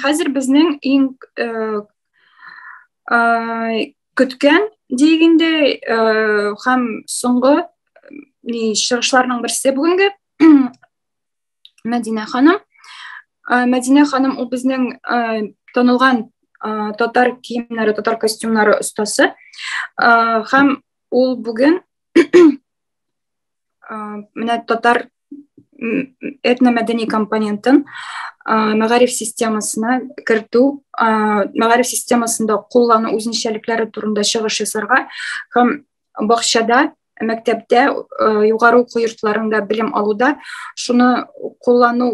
Хәзер безнең иң көткән дигәндә һәм соңгы ни чыгышларның берсе бүгенге Мәдинә ханым. Мәдинә ханым ул безнең танылган татар киемнәре, татар костюмнары остасы. Һәм ул бүген менә татар этномәдәни компонентын мәгариф системасына кертү мәгариф системасында куллану үзенчәлекләре турында чыгыш ясарга һәм бакчада мәктәптә югары уку йортларында белем алуда шуны куллану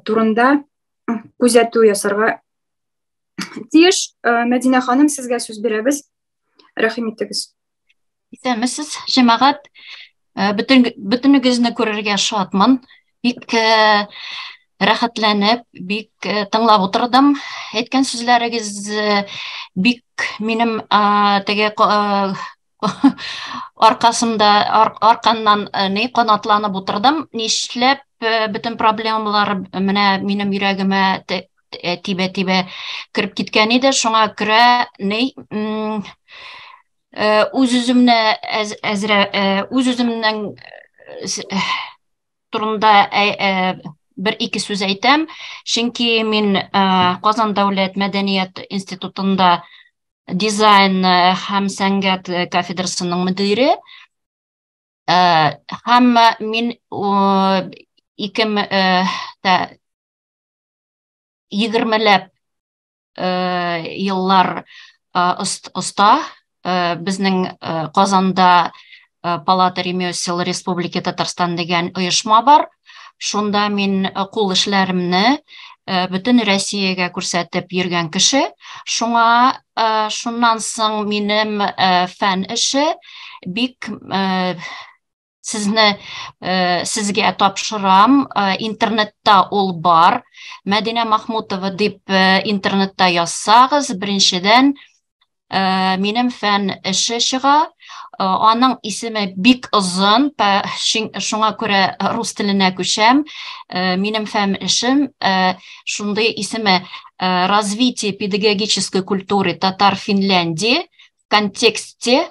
турында күзәтү ясарга тиеш мәдинә ханым сезгә сүз бирәбез рәхим итегез Исәнмесез, җәмәгать. Э, бөтен бөтенегезне күрергә шатмын. Бик э, рәхәтләнеп, бик э, тыңлап утырдым. Әйткән сүзләрегез бик минем теге аркасында арканнан ни канатланып утырдым. Нишләп бөтен проблемалар менә минем йөрәгемә тибә-тибә кереп киткән иде. Шуңа күрә ни Э, үз үземне әзрә э, үз үземнең э, турында бер ике сүз әйтәм чөнки мин казан дәүләт мәдәният институтында дизайн һәм сәнгать кафедрасының мөдире һәм мин ике егермеләп еллар оста безнең Казанда Палата ремесел Республики Татарстан дигән оешма бар. Шунда мин кул эшләремне бөтен Россиягә күрсәтеп йөргән кеше. Шуңа шуннан соң минем фән эше бик сезне э, сезгә тапшырам э, интернетта ул бар мәдинә махмутова дип э, интернетта язсагыз беренчедән э, минем фән эше чыга э, аның исеме бик озын шуңа күрә рус теленә күчәм э, минем фән эшем э, шундый исеме э, развитие педагогической культуры татар финляндии в контексте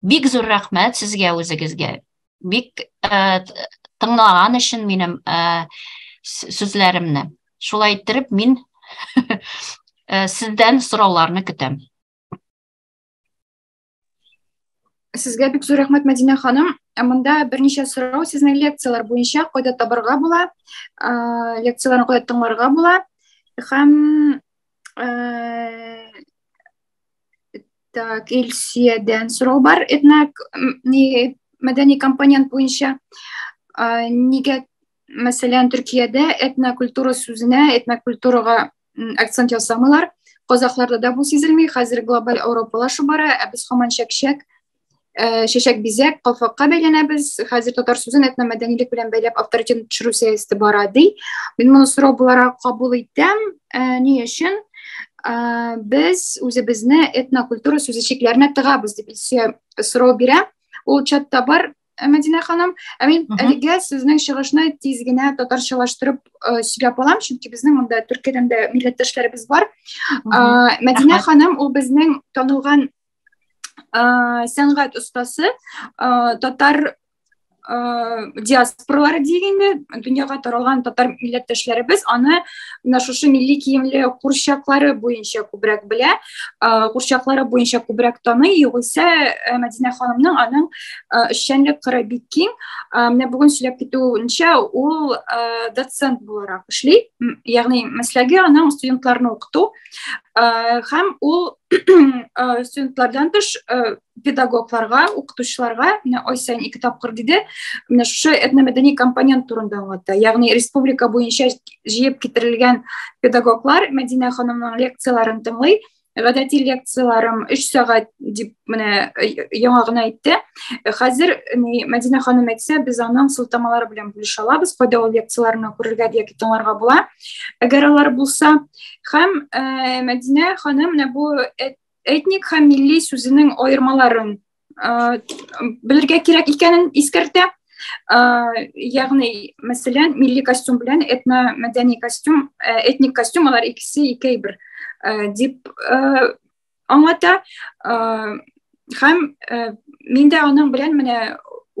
Бик зур рәхмәт сезгә үзегезгә. Бик э, тыңлаган өчен минем э, сүзләремне. Шулай иттереп мин э, сездән сорауларны көтәм. Сезгә бик зур рәхмәт, Мәдинә ханым. Ә монда берничә сорау сезнең лекцияләр буенча кайда табарга була, лекцияләрне кайда тыңларга була һәм Так, Илсиядән сорау бар. Этнак ни мәдәни компонент буенча нигә мәсәлән Төркиядә этнокультура сүзенә, этнокультурага акцент ясамыйлар. Казахларда да бу сизелми. Хәзер глобаль Европалашу бара, ә без һаман чәк-чәк Э, чәчәк бизәк калфакка бәйләнәбез хәзер татар сүзен этномәдәнилек белән бәйләп авторитетын төшерү сәясәте бара ди мин моны сорау буларак кабул итәм э, ни өчен э, без үзебезне этнокультура сүзе чикләренә тыгабыз дип илсөя сорау бирә ул чатта бар Мәдинә ханым, ә мин әлегә сезнең чыгышны тиз генә татарчалаштырып сөйләп алам, чөнки безнең монда Төркиядән дә милләттәшләребез бар. Мәдинә ханым, ул безнең танылган сәнгать остасы татар диаспоралары дигәндә дөньяга таралган татар милләттәшләребез аны менә шушы милли киемле курчаклары буенча күбрәк белә курчаклары буенча күбрәк таный югыйсә э, мәдинә ханымның аның э, эшчәнлек кыры бик киң менә бүген сөйләп китүенчә ул э, доцент буларак эшли ягъни мәсләге аның студентларны укыту һәм ул Э, студентлардан тыш э, педагогларга укытучыларга менә ай сайын ике тапкыр диде менә шушы этномәдәни компонент турында аңлатты ягъни республика буенча җыеп китерелгән педагоглар мәдинә ханымның лекцияләрен тыңлый гадәти лекцияләрем өч сәгать дип менә э, яңа гына әйтте хәзер мәдинә ханым әйтсә без аның сылтамалары белән бүлешә алабыз кайда ул лекцияләрне күрергә яки тыңларга була әгәр алар булса һәм ә, мәдинә ханым менә бу этник һәм милли сүзенең аермаларын ә, белергә кирәк икәнен искәртә ә, ягъни мәсәлән милли костюм белән этно мәдәни костюм ә, этник костюм алар икесе икәй бер ә, дип ә, аңлата ә, һәм ә, мин дә аның белән менә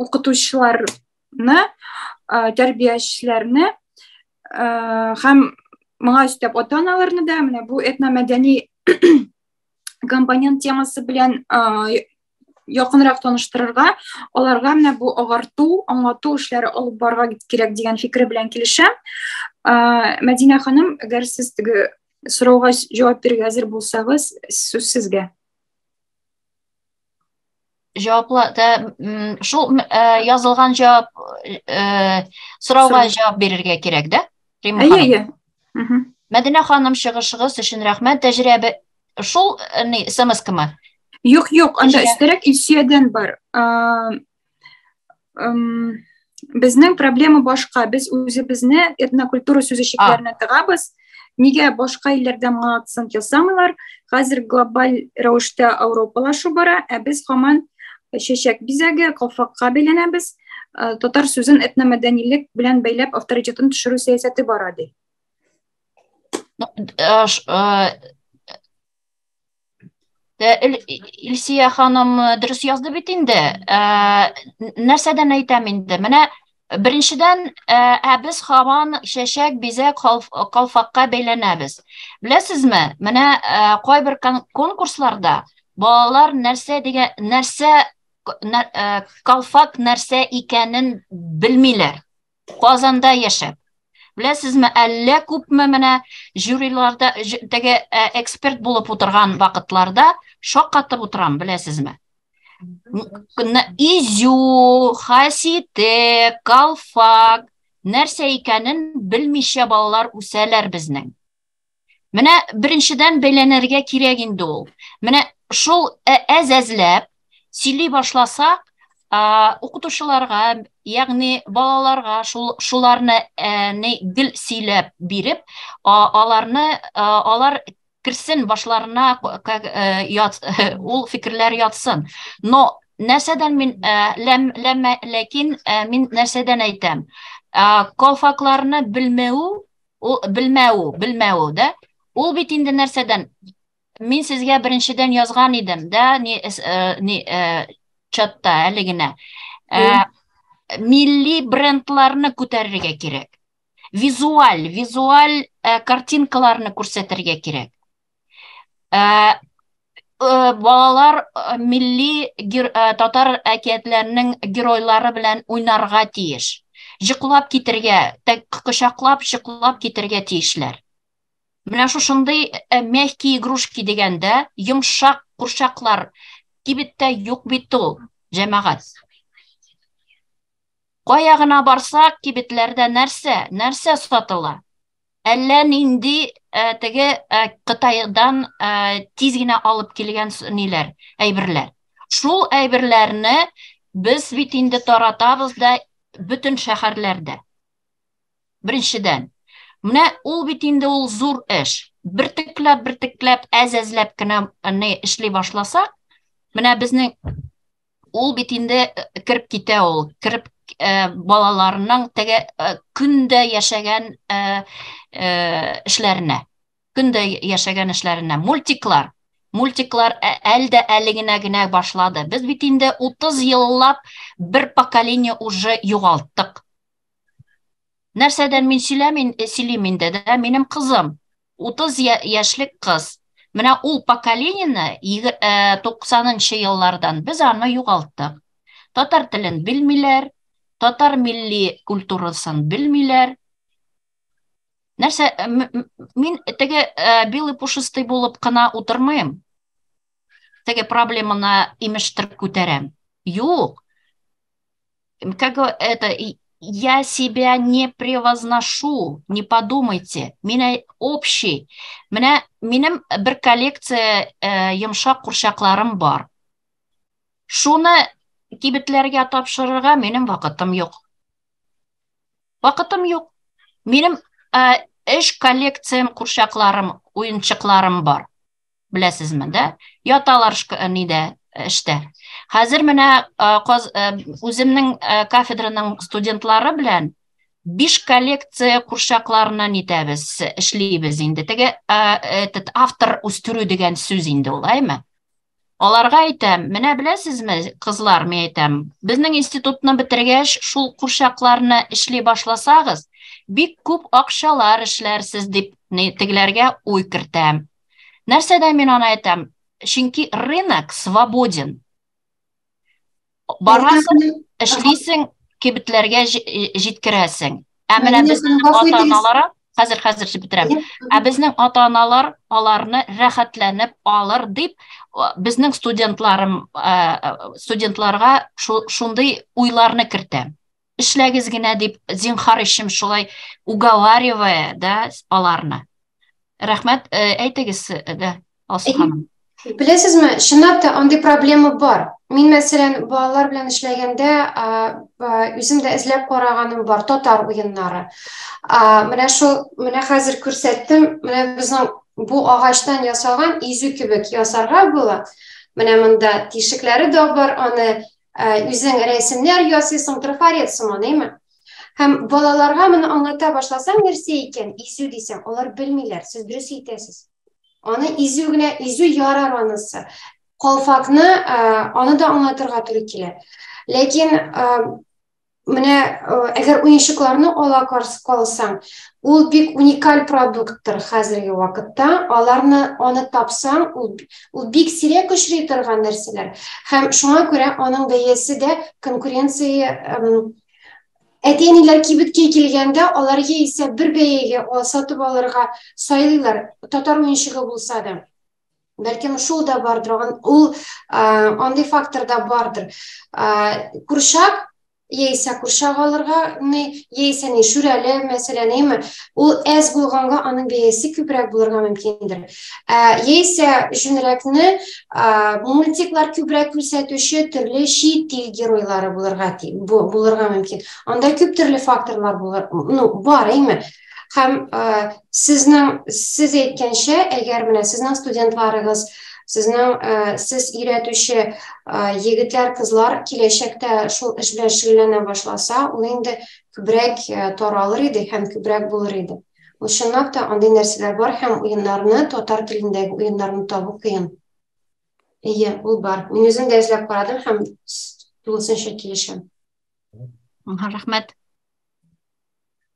укытучылар тәрбиячеләрне һәм моңа өстәп ата аналарны да менә бу этномәдәни компонент темасы белән якынрак таныштырырга аларга менә бу агарту аңлату эшләре алып барырга кирәк дигән фикер белән килешәм мәдинә ханым әгәр сез теге сорауга җавап бирергә әзер булсагыз сүз сезгә җаваплы шул язылган җавап сорауга җавап бирергә кирәк да әйе әйе мәдинә ханым чыгышыгыз өчен рәхмәт тәҗрибә шул ни смс кама юк юк анда өстәрәк илсөядән бар безнең проблема башка без үзебезне этнокультура сүзешекләренә тыгабыз нигә башка илләрдә моңа акцент ясамыйлар хәзер глобаль рәвештә ауропалашу бара ә без һаман чәчәк бизәге калфакка бәйләнәбез э, татар сүзен этномәдәнилек белән бәйләп авторитетын төшерү сәясәте бара ди э, э, Илсия ханым дөрес язды бит инде. Нәрсәдән әйтәм инде? Менә беренчедән, ә без һаман чәчәк, бизәк, калфакка бәйләнәбез. Беләсезме, менә кайбер конкурсларда балалар нәрсә дигән, нәрсә калфак нәрсә икәнен белмиләр. Казанда яшәп. Беләсезме, әллә күпме менә жюриларда теге э, эксперт булып утырган вакытларда шаккатып утырам, беләсезме? Изю, Хасите, Калфак нәрсә икәнен белмичә балалар үсәләр безнең. Менә беренчедән бәйләнергә кирәк инде ул. Менә шул әз-әзләп сөйли башласак, укытучыларга, ягъни балаларга шул шуларны не гел сөйләп биреп, аларны алар керсен башларына ул фикерләр ятсын. Но нәрсәдән мин ләм ләм ләкин мин нәрсәдән әйтәм? Колфакларны белмәү Ул белмәү, белмәү, да? Ул бит инде нәрсәдән? Мин сезгә беренчедән язган идем, да, ни, э, ни, э, чатта әле генә. Э, милли брендларны күтәрергә кирәк. Визуаль, визуаль э, картинкаларны күрсәтергә кирәк. Ә, Э, балалар э, милли э, татар әкиятләренең геройлары белән уйнарга тиеш җыклап китергә кочаклап җыклап китергә тиешләр менә шушындый мягкие игрушки дигәндә йомшак курчаклар кибеттә юк бит ул җәмәгать кая гына барсак кибетләрдә нәрсә нәрсә сатыла Әллә нинди э, теге э, Кытайдан э, тиз генә алып килгән ниләр, әйберләр. Шул әйберләрне без бит инде таратабыз да бөтен шәһәрләрдә. Беренчедән, менә ул бит инде ул зур эш. Бертекләп, бертекләп, әз-әзләп кенә не эшли башласак, менә безнең ул бит инде э, кереп китә ул кереп э, балаларының теге э, көндә яшәгән э, э, эшләренә көндә яшәгән эшләренә мультиклар мультиклар ә, әлдә әле генә генә башлады без бит инде 30 еллап бер поколение уже югалттык нәрсәдән мин сөйләмин э, сөйлим инде дә минем кызым 30 яшьлек кыз. Менә ул поколенияне 90нчы э, еллардан без аны югалттык. Татар телен белмиләр, татар милли культурасын белмиләр. Нәрсә, э, мин теге э, белый пушистый булып кына утырмыйм. Теге проблеманы имештер күтәрәм. Юк. Как это, я себя не превозношу, не подумайте, меня общий. Меня, минем бер коллекция э, йомшак курчакларым бар. Шуны кибетләргә тапшырырга минем вакытым юк. Вакытым юк. Минем э, эш коллекциям, курчакларым, уенчыкларым бар. Беләсезме, да? Яталар э, нидә э, эштә. Хәзер менә э, үземнең кафедраның студентлары белән биш коллекция курчакларына нитәбез, эшлибез инде. Теге этот автор үстерү дигән сүз инде ул, әйме? Аларга әйтәм, менә беләсезме, кызлар, мен әйтәм, безнең институтны бетергәч, шул курчакларны эшли башласагыз, бик күп акчалар эшләрсез дип тегеләргә уй кертәм. Нәрсәдә мин аны әйтәм? Чөнки рынок свободен. Барасың, эшлисең, кибетләргә җиткерәсең. Ә менә безнең ата-аналар, хәзер хәзер дип бетерәм. Ә безнең ата-аналар аларны рәхәтләнеп алыр дип безнең студентларым студентларга шундый уйларны кертә. эшләгез генә дип зинхар ишем шулай уговаривая да аларны рәхмәт э, әйтегез э, дә алсу ханым беләсезме чынлап та андый проблема бар мин мәсәлән балалар белән эшләгәндә үзем дә эзләп караганым бар татар уеннары менә шул менә хәзер күрсәттем менә безнең бу агачтан ясалган изү кебек ясарга була менә монда тишекләре дә бар аны үзең рәсемнәр ясыйсың, трафарет сыман, әйме? Һәм балаларга моны аңлата башласаң, нәрсә икән, изү дисәң, алар белмиләр, сез дөрес әйтәсез. Аны изү генә, изү ярар анысы. Калфакны, аны да аңлатырга туры килә. Ләкин Менә әгәр уенчыкларны ала калсаң, ул бик уникаль продукттыр хәзерге вакытта. Аларны аны тапсаң, ул, ул бик сирәк очрый торган нәрсәләр. Һәм шуңа күрә аның бәясе дә конкуренция әти-әниләр кибеткә килгәндә, алар яисә бер бәягә сатып алырга сайлыйлар, татар уенчыгы булса да. бәлкем шул да бардыр ул андый фактор да бардыр курчак яисә курчак алырга ни яисә ни шүрәле мәсәлән әйме ул әз булганга аның бәясе күбрәк булырга мөмкиндер яисә җүнрәкне мультиклар күбрәк күрсәтүче төрле чит ил геройлары булырга булырга мөмкин анда күп төрле факторлар булыр ну бар әйме Һәм э, сезнең сез әйткәнчә, әгәр менә сезнең студентларыгыз сезнең э, сез өйрәтүче э, егетләр, кызлар киләчәктә шул эш белән шөгыльләнә башласа, ул инде күбрәк э, таралыр иде һәм күбрәк булыр иде. Ул чынлап та андый нәрсәләр бар һәм уеннарны, татар телендәге уеннарны табу кыен. Әйе, ул бар. Мин үзем дә эзләп карадым һәм тулысынча килешәм. Рәхмәт.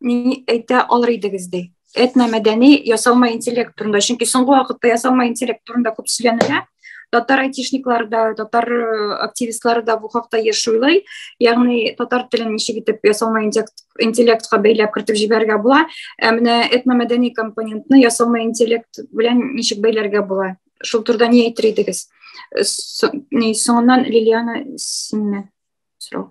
ни әйтә алыр идегез ди этно мәдәни ясалма интеллект турында чөнки соңгы вакытта ясалма интеллект турында күп сөйләнелә татар айтишниклары да татар э, активистлары да бу хакта еш уйлый ягъни татар телен ничек итеп ясалма интеллектка бәйләп кертеп җибәрергә була ә менә этномәдәни компонентны ясалма интеллект белән ничек бәйләргә була шул турыда ни әйтер идегез э, соңыннан лилиана синнән сорау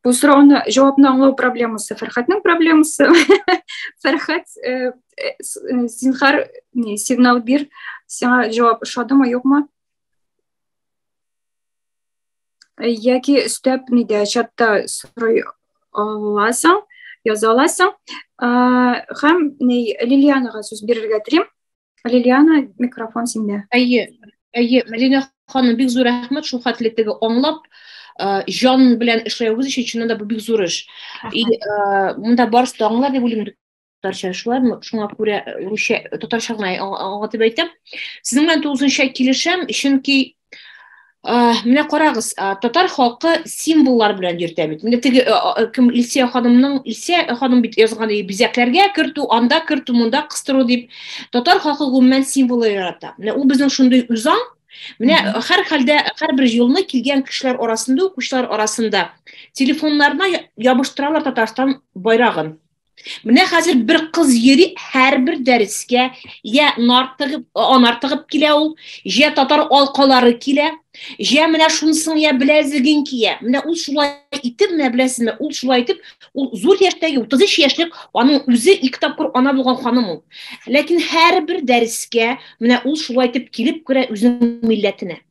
Бу сорауны җавапны аңлау проблемасы, Фәрхәтнең проблемасы. Фәрхәт, э, э, э, зинхар, не, сигнал бир, сиңа җавап ошадымы, юкмы? Яки өстәп нидә чатта сорый аласың, яза аласың. Һәм Лилианага сүз бирергә телим. Лилиана, микрофон синдә. Әйе, әйе, Мәдинә ханым, бик зур рәхмәт шул хәтле теге аңлап җан белән эшләвегез өчен чыннан да бу бик зур эш. И монда барысы да аңлар дип уйлыйм татарча шулай шуңа күрә русча татарча гына аңлатып әйтәм. Сезнең белән тулысынча килешәм, чөнки Э, менә карагыз э, татар халкы символлар белән йөртә бит менә теге э, кем илсия ханымның илсия ханым бит язган иде бизәкләргә кертү анда кертү монда кыстыру дип татар халкы гомумән символ ярата менә ул безнең шундый үзаң менә һәр хәлдә һәрбер юлны килгән кешеләр арасында укучылар арасында телефоннарына ябыштыралар татарстан байрагын Менә хәзер бер кыз йөри һәрбер дәрескә, я нартыгып, анартыгып килә ул, я татар алкалары килә, я менә шунсын я беләзеген кия. Менә ул шулай итеп, менә беләсезме, ул шулай итеп, ул зур яшьтәге 33 яшьлек, аның үзе ике тапкыр ана булган ханым ул. Ләкин һәрбер дәрескә менә ул шулай итеп килеп керә үзенең милләтенә.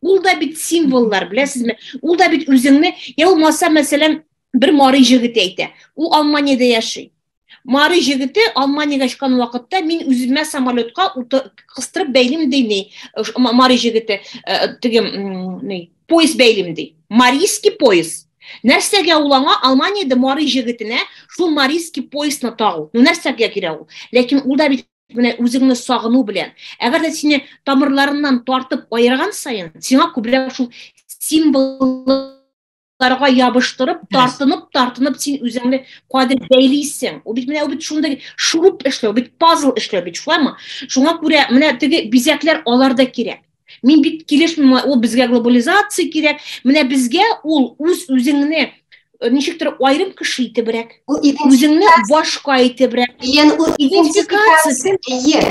Ул да бит символлар, беләсезме? Ул да бит үзеңне, я булмаса, мәсәлән, бер мары җегете әйтә. Ул Алманиядә яши. Мары җегете Алманиягә очкан вакытта мин үземә самолетка кыстырып бәйлим ди ни. Мары җегете э, теге ни, поезд бәйлим ди. Марийский поезд. Нәрсәгә ул аңа Алманиядә Мары җегетенә шул Марийский поездны тагу? Ну нәрсәгә кирәк ул? Ләкин ул да бит менә үзеңне сагыну белән әгәр дә сине тамырларыннан тартып аерган сайын сиңа күбрәк шул символларга ябыштырып тартынып тартынып син үзеңне кадер бәйлисең ул бит менә бит шундый шуруп эшләү бит пазл эшләү бит шулаймы шуңа күрә менә теге бизәкләр алар да кирәк Мин бит килешмим, ул безгә глобализация кирәк. Менә безгә ул үз үзеңне э, ничектер айрым кеше итебрәк, үзеңне башка итебрәк. Ен үз идентификациясе. Ие.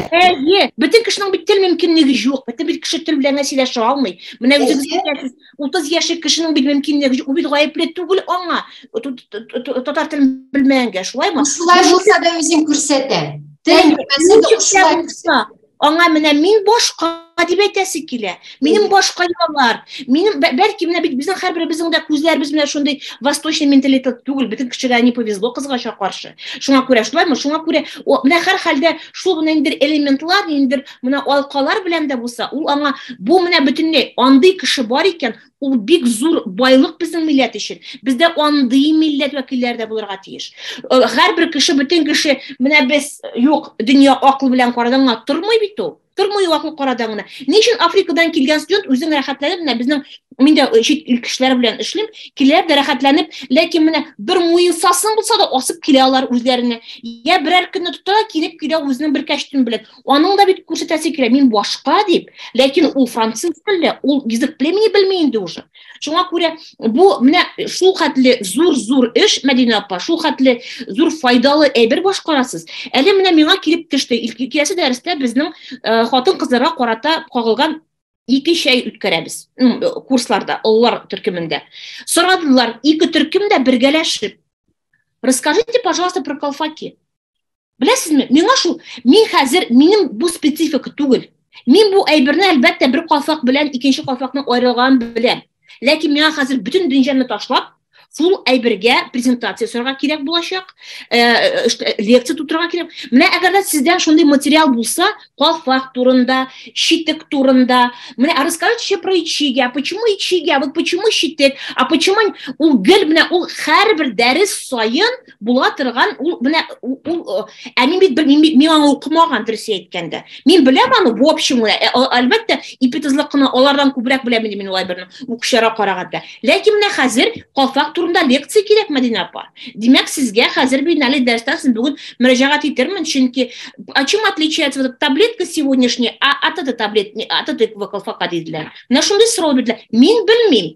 Ие. Бөтен кешенең бит тел мөмкинлеге юк. Бөтен бит кеше тел белән сөйләшә алмый. Менә үзегез әйтәсез, 30 яшьлек кешенең бит мөмкинлеге юк. Ул бит гаепле түгел аңа. Татар телен белмәгәнгә, шулаймы? Шулай булса да үзен күрсәтә. Тел белмәсә дә аңа менә мин башка дип әйтәсе килә минем башка йолалар минем бәлки менә бит безнең һәрберебезнең дә күзләребез менә шундый восточный менталитет түгел бөтен кешегә не повезло кызгача каршы шуңа күрә шулаймы шуңа күрә менә һәрхәлдә шул менә ниндидер элементлар ниндидер менә алкалар белән дә булса ул аңа бу менә бөтенләй андый кеше бар икән ул бик зур байлык безнең милләт өчен. Бездә андый милләт вәкилләре дә булырга тиеш. Һәрбер кеше, бөтен кеше, менә без юк, дөнья акыл белән карадан гына тормый бит ул. Тормый ул акыл карадан гына. Ни өчен Африкадан килгән студент үзен рәхәтләнеп, менә безнең мин дә чит ил кешеләре белән эшлим, киләләр дә рәхәтләнеп, ләкин менә бер муенсасын булса да асып килә алар үзләренә. Я берәр көнне тоталар, килеп килә үзенең бер кәчтүм белән. Аның да бит күрсәтәсе килә, мин башка дип, ләкин ул француз телле, ул язык племени белми инде уже. Шуңа күрә бу менә шул хәтле зур-зур эш, Мәдинә апа, шул хәтле зур файдалы әйбер башкарасыз. Әле менә миңа килеп төште, киләсе дәрестә безнең э, хатын-кызларга карата кагылган ике чәй үткәрәбез курсларда, олылар төркемендә. Сорадылар, ике төркем дә бергәләшеп. Расскажите, пожалуйста, про колфаки. Беләсезме, миңа шул, мин хәзер, минем бу специфика түгел. Мин бу әйберне әлбәттә бер кафак белән икенче кафакның аерылганын беләм. Ләкин миңа хәзер бөтен дөньяны ташлап, шул әйбергә презентация ясарга кирәк булачак, э, э, э, лекция тутырырга кирәк. Менә әгәр дә сездән шундый материал булса, кафак турында, щитек турында, менә а расскажите еще про ичиги, а почему ичиги, а вот почему щитек, а почему ул гел менә ул һәрбер дәрес саен була торган ул менә ул ә мин бит мин аны укымаган дөрес әйткәндә мин беләм аны в общем э, әлбәттә ипитезлык кына алардан күбрәк беләм инде мин улай берне укучыларга караганда ләкин менә хәзер калфак турында лекция кирәк мәдинә апа димәк сезгә хәзер мин әле дәрестән соң бүген мөрәҗәгать итермен чөнки а чем отличается вот таблетка сегодняшняя от этой таблетки от этого колфака диделәр менә шундый сорау бирделәр мин белмим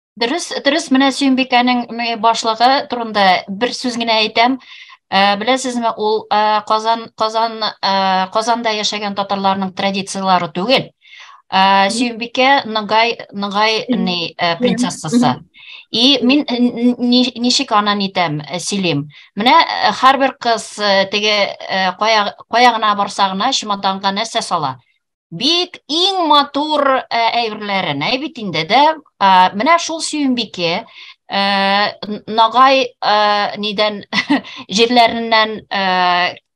Дөрес, дөрес, менә Сөембикәнең башлыгы турында бер сүз генә әйтәм. Ә, беләсезме, ул ә, Казан, Казан, ә, Казанда яшәгән татарларның традицияләре түгел. Ә, Сөембикә Ногай, Ногай ни, ә, принцессасы. И мин ничек аны нитәм, сөйлим. Менә һәрбер кыз теге кая, кая гына барса гына чемоданга нәрсә сала? Бик иң матур э, әйберләрен, әй бит инде дә, э, менә шул сөембике, э, нагай нидән җирләреннән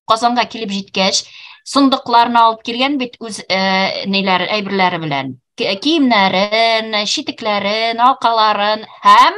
Казанга килеп җиткәч, сондыкларны алып килгән бит үз ниләр әйберләре белән. Киемнәрен, читекләрен, алкаларын һәм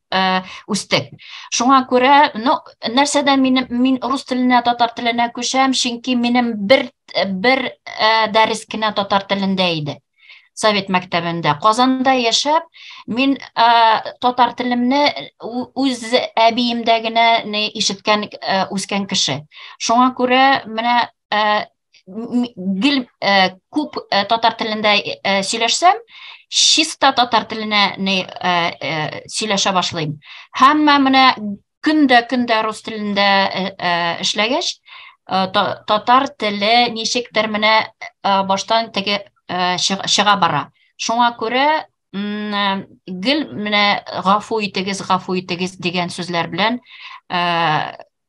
Э, үстек шуңа күрә ну нәрсәдә минем мин рус теленә татар теленә күчәм чөнки минем бер бер ә, дәрес кенә татар телендә иде совет мәктәбендә казанда яшәп мин ә, татар телемне үз әбиемдә генә ишеткән ә, үскән кеше шуңа күрә менә ә, гел күп татар телендә сөйләшсәм чиста татар теленә сөйләшә башлыйм һәммә менә көн дә көн дә рус телендә эшләгәч татар теле ничектер менә баштан теге чыга бара шуңа күрә гел менә гафу итегез гафу итегез дигән сүзләр белән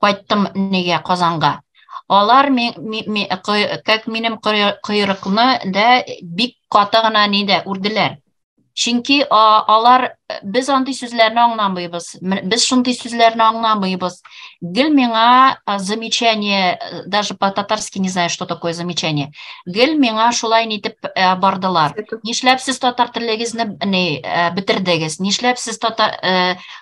кайттым нигә Казанга. Алар ми, ми, ми, кой, как минем койрыкны да бик каты гына нидә үрделәр. Чөнки алар без андый сүзләрне аңламыйбыз. Без шундый сүзләрне аңламыйбыз. Гел миңа замечание, даже по-татарски не знаю, что такое замечание. Гел миңа шулай нитеп бардылар. Нишләп сез татар телегезне бетердегез? Нишләп сез татар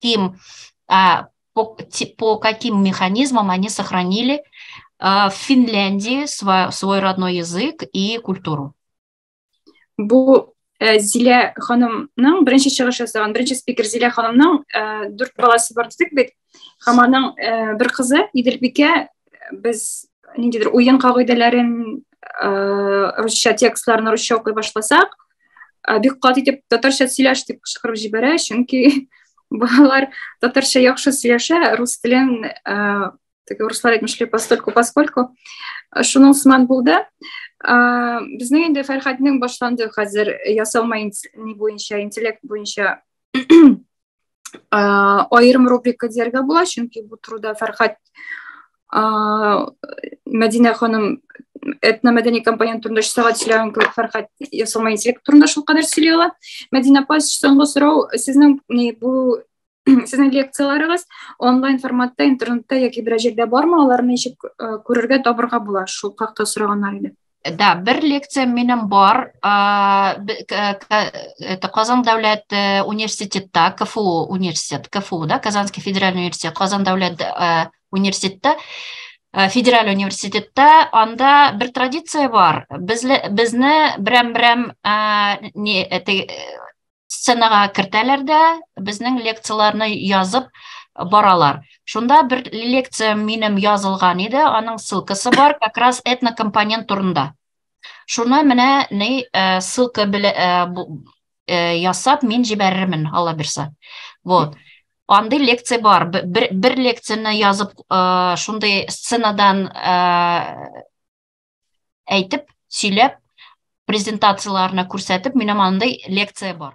тем, а, по, по каким механизмам они сохранили а, в Финляндии свой, свой родной язык и культуру. Бу Э, зилә ханымның беренче чыгыш ясаган беренче спикер зилә ханымның э, дүрт баласы бар дидек бит һәм аның э, бер кызы иделбикә без ниндидер уен кагыйдәләрен русча текстларын русча укый башласак ә, бик каты итеп татарча сөйләш дип кычкырып җибәрә чөнки балалар татарча яхшы сөйләшә рус телен ә, теге руслар әйтмешли постольку поскольку шуның сыман булды ә, безнең инде фәрхәтнең башланды хәзер ясалма ни буенча интеллект буенча аерым рубрика дияргә була, чөнки бу турыда Фәрхәт Мәдинә ханым этномәдәни компонент турында өч сәгать сөйләгән кебек Фәрхәт ясалма интеллект турында шулкадәр сөйли ала. Мәдинә апа, соңгы сорау, сезнең бу сезнең лекцияләрегез онлайн форматта интернетта яки берәр җирдә бармы, аларны ничек күрергә, табырга була? Шул хакта сораганнар иде. Да, бер лекция минем бар. Это Казан дәүләт э, университетта, КФУ университет, КФУ, да, Казанский федеральный университет, Казан дәүләт э, университетта, э, федераль университетта, анда бер традиция бар. Безне берәм-берәм сценага кертәләр дә безнең лекцияләрне язып баралар шунда бер лекция минем язылган иде аның ссылкасы бар как раз этнокомпонент турында шуны менә ни э, ссылка белә э, э, ясап мин җибәрермен алла бирса вот андый лекция бар бер, бер лекцияне язып шундый сценадан әйтеп сөйләп презентацияләренә күрсәтеп менә мондый лекция бар